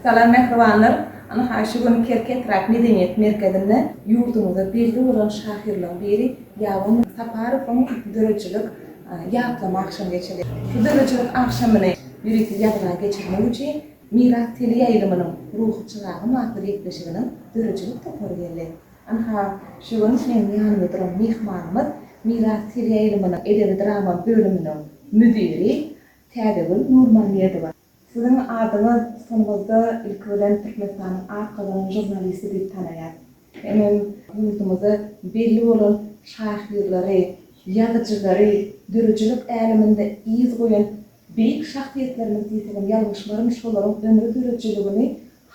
Salam mähribanlar! Ynha şu gün Kerki etrap medeniýet merkezinde ýurdumyzda belli bolan şahyrlaryň biri Ýaban Saparowyň döredijilik ýatlama agşamy geçiriler. Bu döredijilik agşamyny ýörite ýazga geçirmek üçin Miras teleýaýlymynyň Ruhy çyragym atly gepleşiginiň döredijilik topary geldi. Ynha şu gün meň ýanymda duran myhmanymyz Miras teleýaýlymynyň edebi-drama bölüminiň müdiri Täzegül Nurmammedowa. Siziň adyňyz sunumyzda ilki bilen Türkmenistanyň at gazanan žurnalisti diýip tanaýar. Hemem ýurdumyzda belli bolan şahyrlary, ýazyjylary, döredijilik äleminde yz goýan beýik şahsyýetlerimiz diýsegem ýalňyşmaryn şolaryň ömri döredijiligini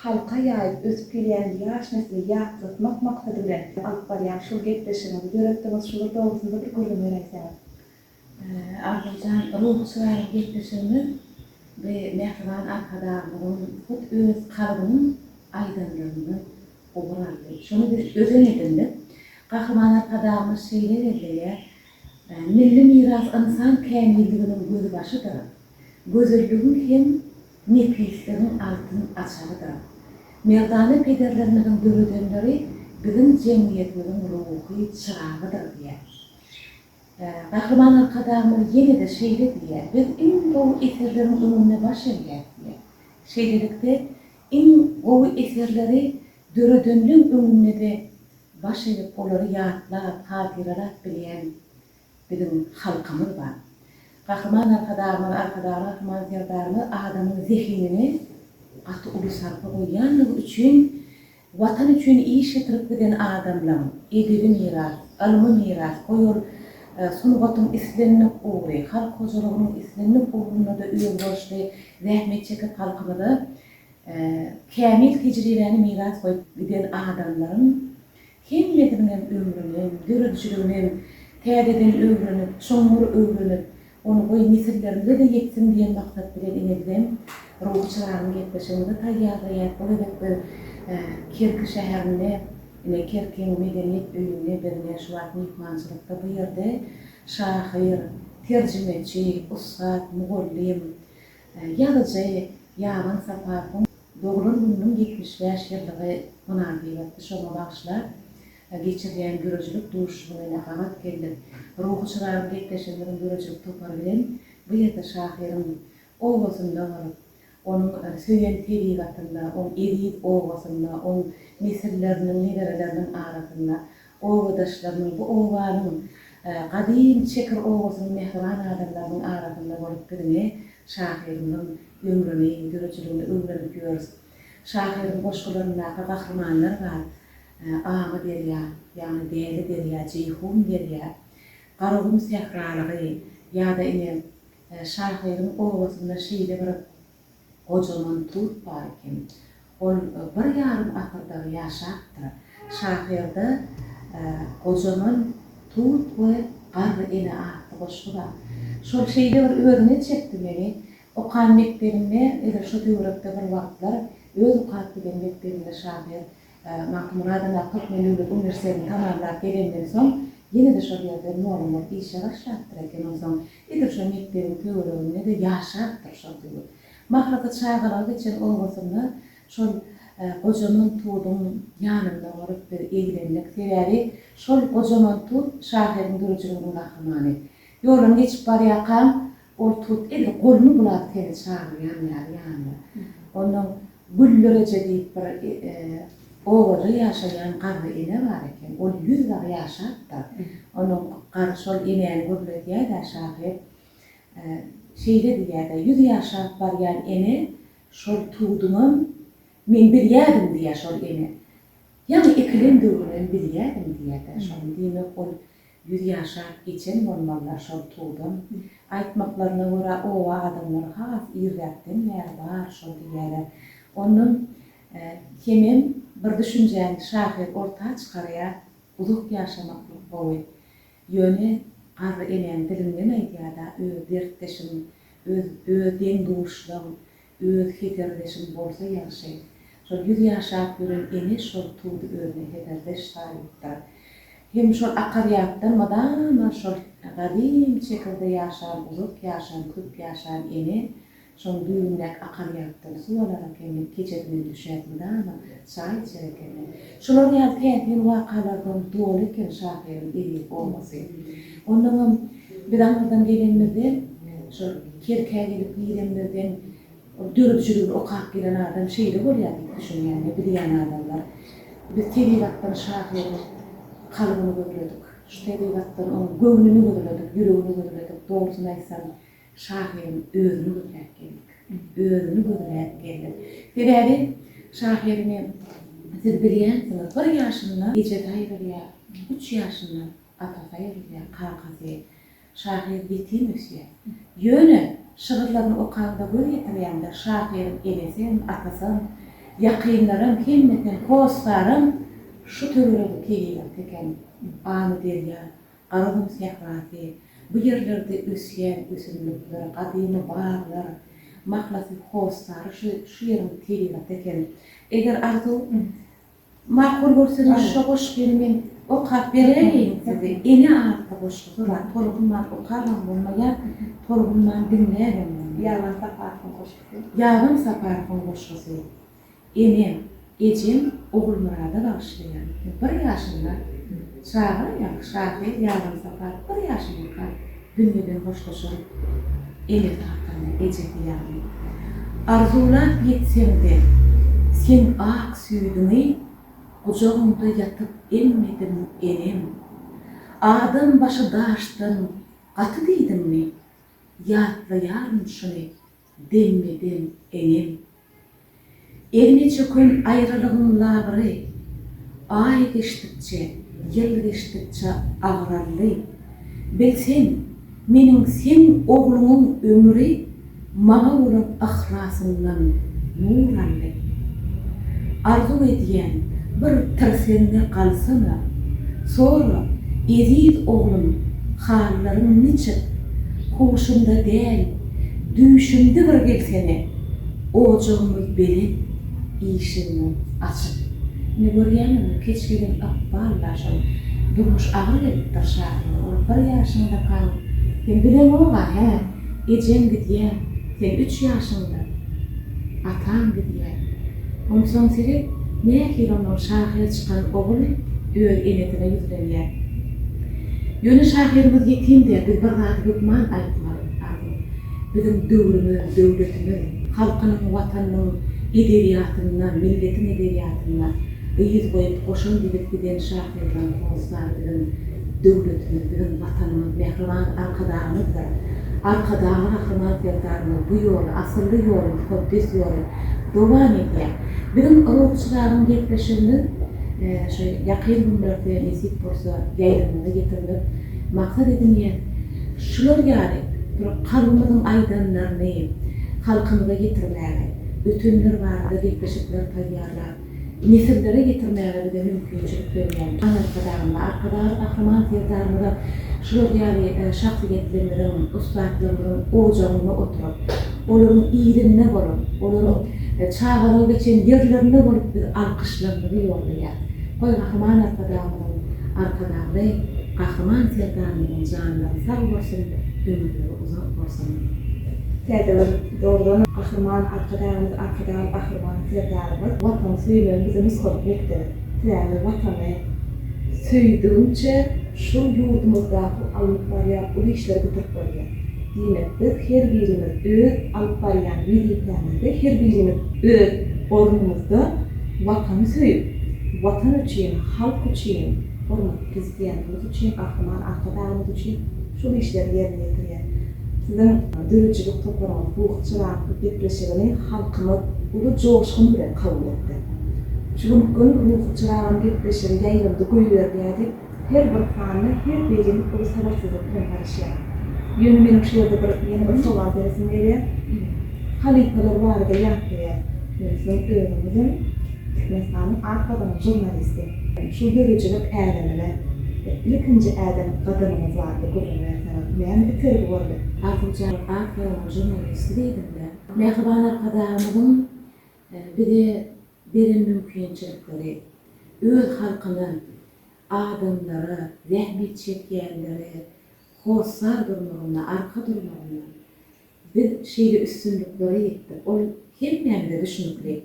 halka ýaýyp ösüp gelýän ýaş nesli ýatlatmak maksady bilen alyp barýan şul gepleşigiňizi döretdiňiz şular dogrusynda bir gürrüň beräýseňiz. Arzuwjan ruhusy barada gepleşigimiz bi mähriban Arkadagymyzyň hut öz kalbynyň aýdanlaryndan ugur aldy. Şony biz özen edindik. Gahryman Arkadagymyz şeýle belleýär, Milli miras ynsan kämilliginiň gözbaşydyr. Gözelligiň hem nepisligiň altyn açarydyr. Merdana pederlerimiziň döredenleri biziň jemgyýetimiziň ruhy çyragydyr diýýär. Gahryman Arkadagymyz ýene-de şeýle diýýär, Biz iň gowy eserleriň öňünde baş egýäris diýýär. Şeýlelikde, iň gowy eserleri döredenleň öňünde-de baş egip, olary ýatlap, hatyralap bilýän biziň halkymyz bar. Gahryman Arkadagymyz, Arkadag Gahryman Serdarymyz adamyň zehinine gaty uly sarpa goýýandygy üçin Watan üçin iş ýitirip giden adamlaň edebi miras, ylmy miras, goý ol sungatyň islendik ugry, halk hojalygynyň islendik ugrunda-da özboluşly zähmet çekip halkymyza kämil tejribäni miras goýup giden adamlaryň hemmesiniň hem ömrüni hem döredijiligini hem täzeden öwrenip, çuňňur öwrenip, Ony goý, nesillerimize-de ýetsin diýen maksat bilen inizem, Ruhy Çyragyň gepleşigini-de taýýarlaýar. Bu gezek biz Kerki şäherinde, ine, Kerkiň Medeniýet öýünde biz ine, şu wagt myhmançylykda bu ýerde şahyr, terjimeçi, ussat, mugallym, ýazyjy Ýagan Saparowyň doglan gününiň ýetmiş bäş ýyllygy mynasybetli şoňa bagyşlap, geçirilýän döredijilik duşuşygyna ýene gabat geldik. Ruhy Çyragyň gepleşigleriniň döredijilik topary bilen bu ýerde şahyryň obasynda bolup, onuň söýen tebigatynda, oň eziz obasynda, oň nesilleriniň, nebereleriniň arasynda, obadaşlarynyň, bu obanyň, gadym Çekir obasynyň mähriban adamlarynyň arasynda bolup biziňi, şahyrymyzyň ömrüni, döredijiligini öwrenip ýörüs. Şahyryň goşgularyndaky gahrymanlar bar, Agy derýa, ýagny Däli derýa, Jeýhun derýa, Garagum sähralygy ýa-da ine, şahyryň obasynda şeýle bir gojaman tut bar eken. Ol bir ýarym asyrdyr ýaşapdyr. Şahyrda Gojaman tut we Garry ene atly goşgy bar. Şol şeýle bir özüne çekdi meni, Okan mekdebinde edil şu töwerekde bir wagtlar öz okap giden mekdebinde şahyr Magtymguradyn ýa Türkmen döwlet uniwersitetini tamamlap gelenden soň ýene-de şol ýerde mugallymlyk işe başlapdyr eken onsoň edil şo mekdebiň töwereginde-de ýaşapdyr şol döwür. Mahrasa çagalygy geçen obasynda şol gojaman tuduň ýanynda bolup biz eglendik. Sebäbi şol gojaman tut şahyryň dürüjüliginiň gahrymany. Ýoldan geçip barýarkaň Ol turup edil goluny bulap seni çagyrýan ýaly ýanyna. Onuň Güldereje diýip bir obada ýaşaýan garry ene bar eken. Ol ýüz bar ýaşapdyr. Onuň garry şol enäni gürledýär-dä şahyr. Şeýle diýýär-dä, Ýüz ýaşap barýan ene şol tuduňam men bilýädim diýýär şol ene. Ýaňy ekilen döwrüňem bilýädim diýýär-dä şony. Diýmek ol Ýüz ýaşap geçen bolmalylar şol tugdan. Aýtmaklaryna görä oba adamlary has irräkden bäri bar şol diýýäler. Ondan hemem bir düşünjäni şahyr orta çykarýar, uzak ýaşamaklyk gowy. Ýöne garry enäň dilinden aýdýar-da, öz dertdeşiň, öz öz deň-duşlaň, Öz heserdeşiň bolsa ýagşy. Şol ýüz ýaşap ýören ene şol tudy özüne heserdeş saýypdyr. Hem şol akar ýatdan mydama şol gadym çekirde ýaşan uzak ýaşan köp ýaşan ene şoň düýbündäki akar ýatdan suw alarak hem men keçe günem düşäp mydama çaý içer ekendim. Şular ýaly täsin wakalardan doly eken şahyryň edebi obasy. Onnoňam biz aňyrdan gelenimizde, şol Kerkä gelip girenimizden ol döredijiligini okap gelen adam şeýle bolýar diýip düşünýän we bilýän adamlar. Biz tebigatdan şahyryň kalbyny gözledik. Şu tebigatdan onuň göwnüni gözledik, ýüregini gözledik. Dogrusyny aýtsam, Şahyryň özüni gözläp geldik. Özüni gözläp geldik. Sebäbi şahyryny siz bilýänsiňiz, bir ýaşynda ejesi aýrylýar, üç ýaşynda atasy aýrylýar, kakasy. Şahyr ýetim ösýär. Ýöne şygyrlaryny okaňda göz ýetirýäňde şahyryň enesi hem, atasy hem, ýakynlary hem, hemmesi hem, hossary hem şu töweregi tegelek eken, Amyderýa, Garagum sährasy, bu ýerlerde ösýän ösümlikler, gadymy baglar, mahlasy hossary şu şu ýeriň tebigaty eken. Eger arzuw makul görseňiz şo goşgyny men okap beräýeýin size. Ene atly goşgusy bar. Tolgunman okabam bolmaýar, tolgunman diňläbem bolmaýar. Ýaban Saparowyň goşgusy. Ýaban Saparowyň goşgusy. Enem, ejem Ogulmyrada bagyşlaýan. Bir ýaşynda çaga ýaňky şahyr Ýazan Sapar bir ýaşyndaka dünýeden hoşlaşan enesi hakynda, ejesi ýaly. Arzuwlap ýetseň-de, sen ak süýdüňi Gujagyňda ýatyp emmediň, enem. Adam başy daşdan gaty diýdiňmi? Ýatlaýaryn şuny, deňme-deň eňem. Egni çöken aýralygyň labyry, Aý geçdikçe, ýyl geçdikçe agraldy. Bilseň, meniň seň ogluňyň ömri Maňa bolan yhlasyndan nur aldy. Arzuw edýän, bir tirseňňe galsana, Sora, eziz oglum, hallaryň niçik? Huşunda däl. Düýşümde bir gelsene, Ojagymyz belent, işigimiz açyk. Ine, görýäňizmi, keç gelen ykbal-la şol Durmuş aga gelipdir şahyra. Ol bir ýaşyňda kaň. Sen bileňog-a, hä? Ejeň gidýär. Sen üç ýaşyňda ataň gidýär. Onsoň seret, nähili onuň şahyr çykan ogly öz enesine ýüzlenýär. Ýöne şahyrymyz ýetim däl, biz bir zady hökman aýtmaly. Amin. Biziň döwrümiz, döwletimiz, halkynyň, Watanynyň edebiýatynda, milletiň edebiýatynda yz goýup, goşant edip giden şahyrlaryň hossary biziň döwletimiz, biziň Watanymyz, mähriban Arkadagymyzdyr. Arkadagly Gahryman Serdarymyz bu ýoly, asylly ýoly, mukaddes ýoly dowam edýär. Biziň Ruhy Çyragyň gepleşigimiz şu ýakyn günlerde nesip bolsa ýaýlymyza getirmek maksat edinýär. Şular ýaly bir halkymyzyň aýdanlaryny halkymyza ýetirmäge, ötenler barada gepleşikler taýýarlap, nesillere ýetirmäge bize mümkinçilik berýän Aly Arkadagymyza, Arkadagly Gahryman Serdarymyza şular ýaly şahsyýetlerimiziň, ussatlarymyzyň ojagyna oturyp, olaryň yzynda bolup, olaryň çagalygy geçen ýerlerinde bolup biz alkyşlarymyzy ýollaýas. Goý, Gahryman Arkadagymyzyň Arkadagly Gahryman Serdarymyzyň janlary sag bolsun, ömürleri uzak bolsun! Täze ýyl, doglan Gahryman Arkadagymyz, Arkadagly Gahryman Serdarymyz Watany söýmegiň bize nusgalyk mekdebi. Sebäbi Watany söýdügiňçe şol ýurdumyzdaky alnyp barýan uly işleri bitirip, bolýar. Diýmek, biz her birimiz öz alyp barýan wezipämizde, her birimiz öz ornumyzda Watany söýüp, Watan üçin, halk üçin, hormatly Prezidentimiz üçin, Gahryman Arkadagymyz üçin şol işleri ýerine ýetirýär. Siziň döredijilik toparyňyz Buh çyraňky gepleşigini halkymyz uly joşgun bilen kabul etdi. Şu gün Gün ruhy çyragyň gepleşigi ýaýlymda goýberilýär diýip, Her bir panda her beýleki uly sabyrsyzlyk bilen garaşýar. Ýöne meniň şu ýerde bir ýene bir sowal beresim gelýär. Halypalar barada ýatlaýar. Ýöne siziň özüňizem Türkmenistanyň at gazanan žurnalisti. Şu döredijilik älemine bir ilkinji äden gadamyňyz barada gürrüň berseňiz, näme itergi boldy? Artykjan at gazanan žurnalisti diýdiňiz-ä. Mähriban Arkadagymyzyň bize beren mümkinçilikleri, öz halkyna, adamlara, zähmet çekýänlere hossar durmagynda, arka durmagynda biz şeýle üstünliklere ýetdik. Ol hemmämize düşnükli.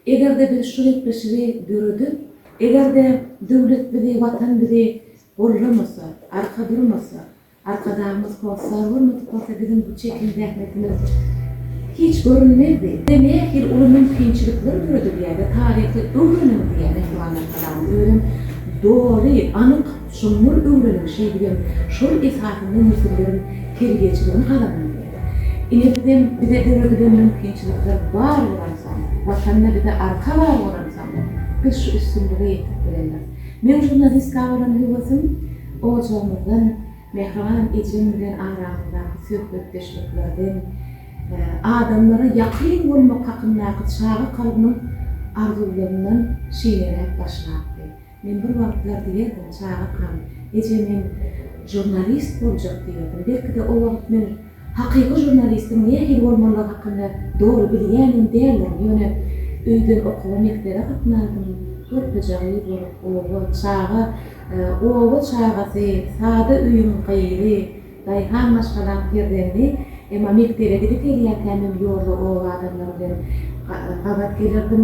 Eger-de biz şu gepleşigi döredip, eger-de döwlet bizi, Watan bizi gollamasa, arka durmasa, Arkadagymyz kod sag bolmadyk bolsa biziň bu çeken zähmetimiz hiç görünmezdi. Bize nähili uly mümkinçilikler döredilýär we taryhy öwreniň diýýär mähriban Arkadagymyz. Özem doly, anyk, çuňňur öwreniň şeýdibem şol esasynda nesilleriň terbiýeçiligini gazanyň diýýär. Ine bizem bize döredilen mümkinçilikler bar bolansoň, Watanda bize arka bar bolansoň biz şu üstünlige ýetip bileris. Meň žurnalistka bolan höwesim. Ojagymyzdan, mähriban ejem bilen aramyzdaky söhbetdeşliklerden, adamlara ýakyn bolmak hakyndaky çaga kalbynyň arzuwlaryndan şineläp başlapdy. Men bir wagtlar diýerdim, Çagakam, ejem hem žurnalist boljak diýerdim. Belki-de, o wagt men Hakyky žurnalistiň nähili bolmalydygy hakynda doly bilýänem däldirin, ýöne öýden okuwa mekdebe gatnadym, körpeje gyz bolup, oba, çaga, oba çagasy, sada öýüň gyzy, daýhan maşgalaň perzendi, emma mekdebe gidip gelýärkäm hem ýolda oba adamlary bilen gabat gelerdim,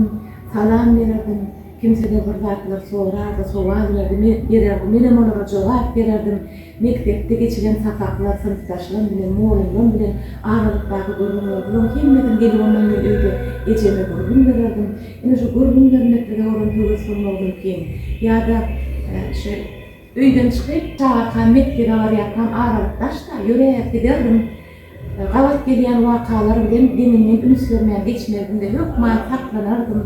salam bererdim, kimseler bir zatlar sorardy, sowal bererdi, menem olara jogap bererdim. Mekdepde geçilen sapaklar, synpdaşlarym bilen, mugallymlarym bilen aralykdaky gürrüňler, bularyň hemmesini gelip ondan men öýde ejeme gürrüň bererdim. Ine şu gürrüň bermeklige bolan höwes bolmagyndan kem. Ýa-da şu öýden çykyp, çagyrkam mekdebe barýarkam aralyk daş-da, ýöräp giderdim. Gabat gelýän wakalar bilen deňinden üns bermän geçmezdim-de, hökman saklanardym,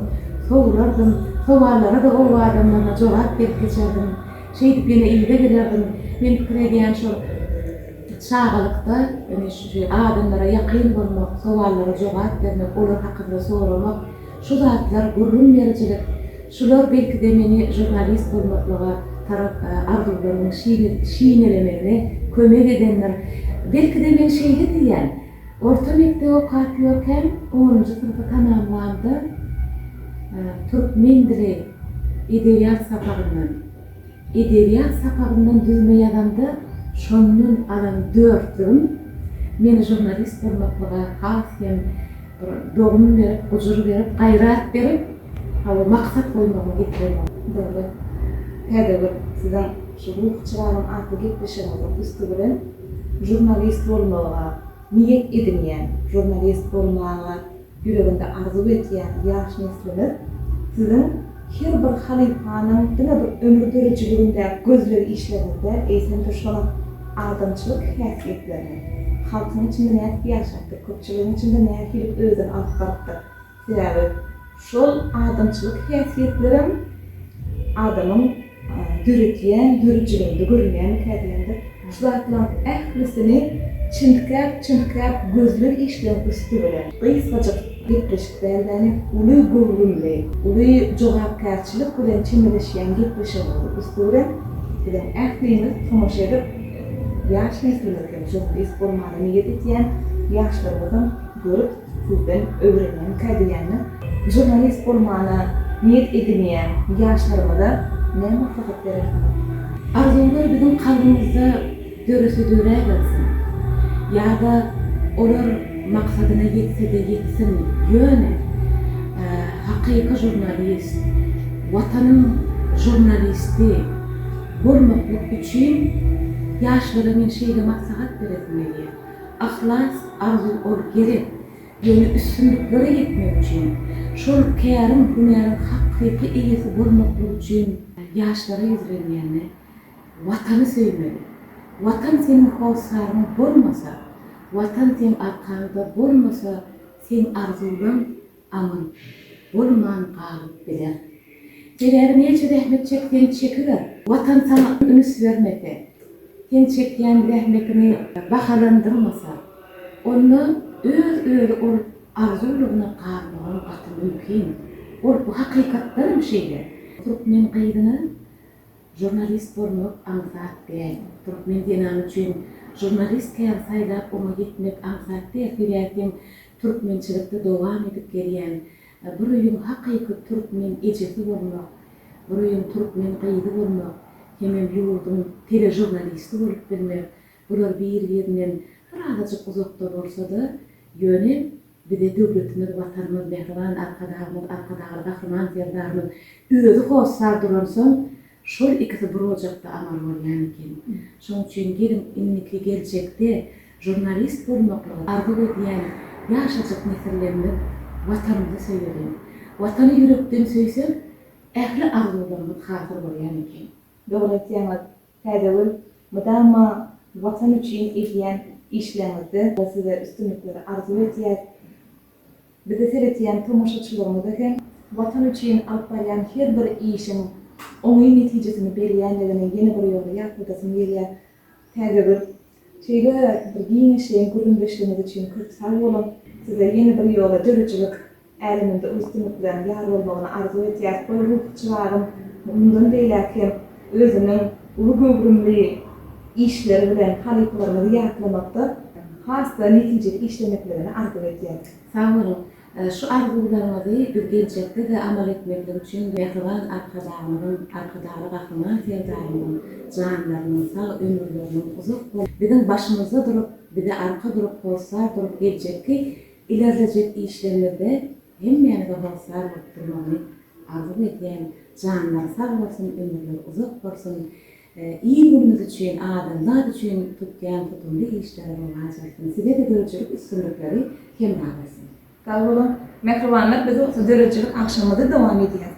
sowulardym, sowallara-da oba adamlaryna jogap berip geçerdim. Şeýdip ýene yza gelerdim. Men pikir edýän şol çagalykda ýöne şu adamlara ýakyn bolmak, sowallara jogap bermek, olar hakynda soramak, Şu zatlar gürrüň berijilik, şular belki-de meni žurnalist bolmaklyga tarap arzuwlarymyň şinelemegine kömek edendir. Belki-de men şeýle diýýän. Orta mekdebi okap ýörkäm, onunjy synpy tamamlamda, türkmen dili, edebiýat sapagyndan. Edebiýat sapagyndan düzme ýazamda şondan alan dörtlügim meni žurnalist bolmaklyga has hem bir dogum berip, gujur berip, gaýrat berip, hawa, maksat goýmagyma getireni boldy. Dogry, täze bir siziň şu Ruhy çyragyň atly gepleşigiňiziň üsti bilen žurnalist bolmagy niýet edinýän, žurnalist bolmaga Ýüreginde arzuw edýän ýaş neslimiz Siziň her bir halypanyň diňe bir ömür döredijiliginde gözleg işlerinizde, eýsem-de şonuň adamçylyk häsiýetlerini, halkyň içinde nädip ýaşapdyr, köpçüligiň içinde nähililik özüni alyp barypdyr. Sebäbi şol adamçylyk häsiýetlerem adamyň. Döredýän döredijiliginde görünýändikä diýendir. Şu zatlaryň ählisini çintgäp-çintgäp gözleg işleň üsti bilen, gysgajyk gepleşik däl-däne, uly göwrümli, uly jogapkärçilik bilen çemeleşýän gepleşigiňiziň üsti bilen biziň ählimiz tomaşa edip, ýaş neslimiz hem, jurnalist bolmana niýet etýän ýaşlarymyz hem görüp, Sizden öwrenenkä diýendim. Žurnalist bolmana niýet edinýän ýaşlarymyza näme maslahat berersiňiz? Arzuwlar biziň kalbymyzda dörese döräbersin. Ýa-da olar maksadyna ýetse-de ýetsin, ýöne hakyky žurnalist, Watanyň žurnalisti bolmaklyk üçin ýaşlara men şeýle maslahat beresim gelýär. Yhlas, arzuw ol gerek. Ýöne üstünliklere ýetmek üçin, şol käriň, hünäriň hakyky eýesi bolmaklyk üçin ýaşlara ýüzlenýände, Watany söýmeli. Watan seniň hossaryň bolmasa, Watan seň arkaňda bolmasa, seň arzuwlaň Aman, bolman galyp biler. Sebäbi näçe zähmet çekseň çekiber, Watan saňa üns bermese, sen çekýän zähmetiňi bahalandyrmasa, onda öz-özi ol arzuwlygyna galmagyň gaty mümkin. Ol hakykatdanam şeýle. Türkmen gyzyna žurnalist bolmak aňsat däl. Türkmen zenany üçin žurnalist käri saýlap oňa ýetmek aňsat däl. Sebäbi sen Türkmençilikde dowam edip gelýän Bir öýüň hakyky türkmen ejesi bolmak, Bir öýüň türkmen gyzy bolmak hemem ýurduň teležurnalisti bolup bilmek, bular bir-birinden bir azajyk uzakda bolsa-da, ýöne bize döwletimiz, Watanymyz, mähriban Arkadagymyz, Arkadagly Gahryman Serdarymyz özi hossar duransoň, Şol ikisi bir ojakda amar bolýan eken. Şoň üçin geliň indiki geljekde žurnalist bolmaklygy arzuw edýän ýaşajyk nesillerimiz Watanymyzy söýeliň. Watany ýürekden söýseň ähli arzuwlarymyz hasyl bolýan eken. Dogry aýtýaňyz Täzegül mydama watan üçin edýän işleriňizde size üstünlikleri arzuw edýäs. Bizi seredýän tomaşaçylarymyza hem Watan üçin alyp barýan her bir işiň oňyn netijesini berýändigini ýene bir ýola ýatladasym gelýär. Täze bir şeýle bir giňişleýin gürrüňdeşligiňiz üçin köp sag boluň. Size ýene bir ýola döredijilik äleminde uly üstünlikleriň ýar bolmagyny arzuw etýäris. Goý, ruhy çyragym, mundan beýläk hem. özüniň uly göwrümli işleri bilen halypalarymyzy ýatlamakda has-da netijeli işlemekligini arzuw edýän. Sag boluň! Şu arzuwlaryňyzy biz geljekde-de amal etmeklik üçin Mähriban Arkadagymyzyň, Arkadagly Gahryman Serdarymyzyň janlarynyň sag, ömürleriniň uzak bolup, biziň başymyzda durup, bize arka durup, hossar durup, geljekki ilerlejek işlerimizde hemmämize hossar bolup durmagyny Arzuw edýän janlary sag bolsun ömürleri uzak bolsun il günümiz üçin adamzat üçin tutýan tutumly işleri rowaç alsyn sizede döredijilik üstünlikleri hemra bolsun. Sag boluň Mähribanlar biz bolsa döredijilik agşamymyzy dowam edýäris.